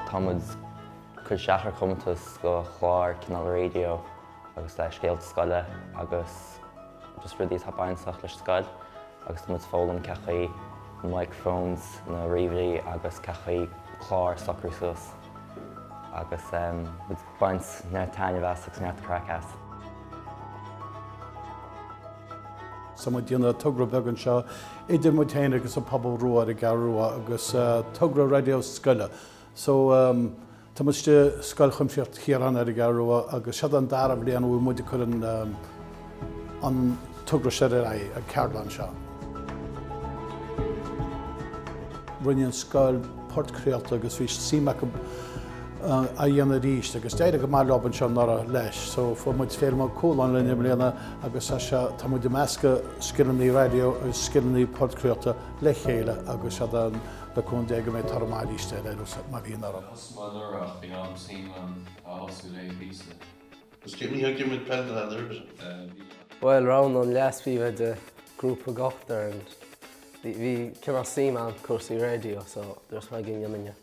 Tá muid cur isteach ar comórtas go chlár cineál raidió agus le scéalta scoile agus just rudaí atá bainteach leis an scoil agus tá muid foghlaim cé chaoi na microphones, na ríomhairí agus cé chaoi clár socrú suas agus muid ag baint neart taitneamh as agus neart craic as. So muid déanamh togra beag anseo idir muid féin agus an pobal rua ar an gCeathrú Rua agus togra raidió scoile. So tá muid istigh i Scoil Chuimsitheach Chiaráin ar an gCeathrú Rua agus seo an dara bliain a bhfuil muid ag cur an an togra seo ar aghaidh, an ceardlann seo. Rinne an scoil podchraolta agus bhí suim acu a dhéanamh arís agus d'éirigh go maith leo anseo anuraidh leis. So fuair muid Féilim Ó Cualáin linn i mbliana agus tá muid ag meascadh scileanna raidió agus scileanna podchraolta le chéile agus iad ann le cúnamh Dé go mbeidh toradh maith aríst leis mar bhí anuraidh. Cosúil le nuair ach bhí am suim ann a fhású léi a píosa. Is céimí thar ag imirt peil na n-ailbhithe. Bhuel roghnaigh an leas-phríomhoide grúpa d'ochtar and bhí cineál suim agam i gcúrsaí raidió so dúirt mé go ndéanfainn é.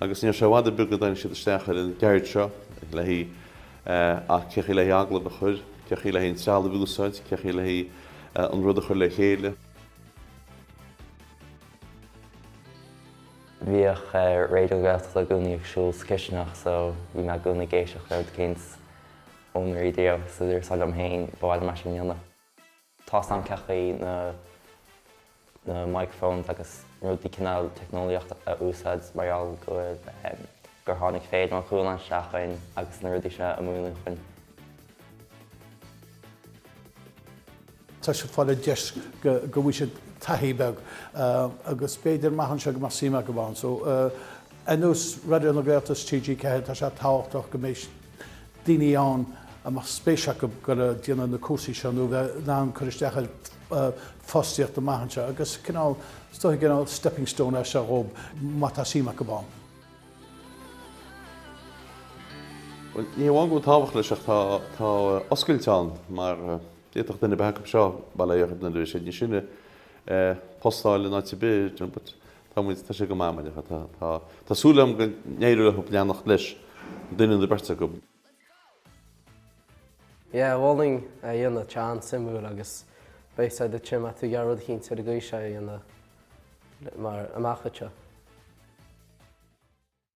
Agus ní raibh sé i bhfad ar bith go dtáinig siad isteach ar an gceird seo le haghaidh, a, cé chaoi le haghaidh agallamh a chur? Cé chaoi le haghaidh an trealamh a úsáid? Cé chaoi le haghaidh an rud a chur le chéile? Bhíodh Raidió na Gaeltachta i gcónaí ag siúl sa chisteanach so bhí mé i gcónaí ag éisteacht le rud éicint ón raidió. So dúras liom féin, ba mhaith liom é sin a dhéanamh. Tá a fhios againn cé chaoi na microphones agus rudaí cineál teicneolaíocht a úsáid mar gheall go bhfuil gur tháinig Féilim Ó Cualáin isteach chuinn agus na rudaí seo a mhúineadh chuinn. Tá siad fáil an deis go go bhfaighidh siad taithí beag agus b'fhéidir amach anseo go mbeadh suim acu ann so ar nós Raidió na Gaeltachta, TG4, tá sé tábhachtach go mbeidh daoine ann a mbeadh spéis acu dhul a' déanamh na cúrsaí seo nó bheith in ann cur isteach ar fostaíocht amach anseo agus cineál, is dócha cineál stepping stone é seo dhóib má tá suim acu ann. Bhuel, ní hamháin go bhfuil tábhacht leis ach tá, tá oscailt ann mar d'fhéadfadh duine nó beirt acu seo, bail ó Dhia orthu, nuair a bheas siad níos sine, post a fháil in áit ar bith, but Tá, tá sé go maith, mar dhea. Tá, tá, tá súil agam go n-éireoidh leo leanacht leis, duine nó beirt acu. Yeah, mholfainn é a dhéanamh, tá sé an-suimiúil agus beidh a fhios agat an mbeadh tú ag iarraidh rud eicínt ar an gcaoi seo a dhéanamh mar amach anseo.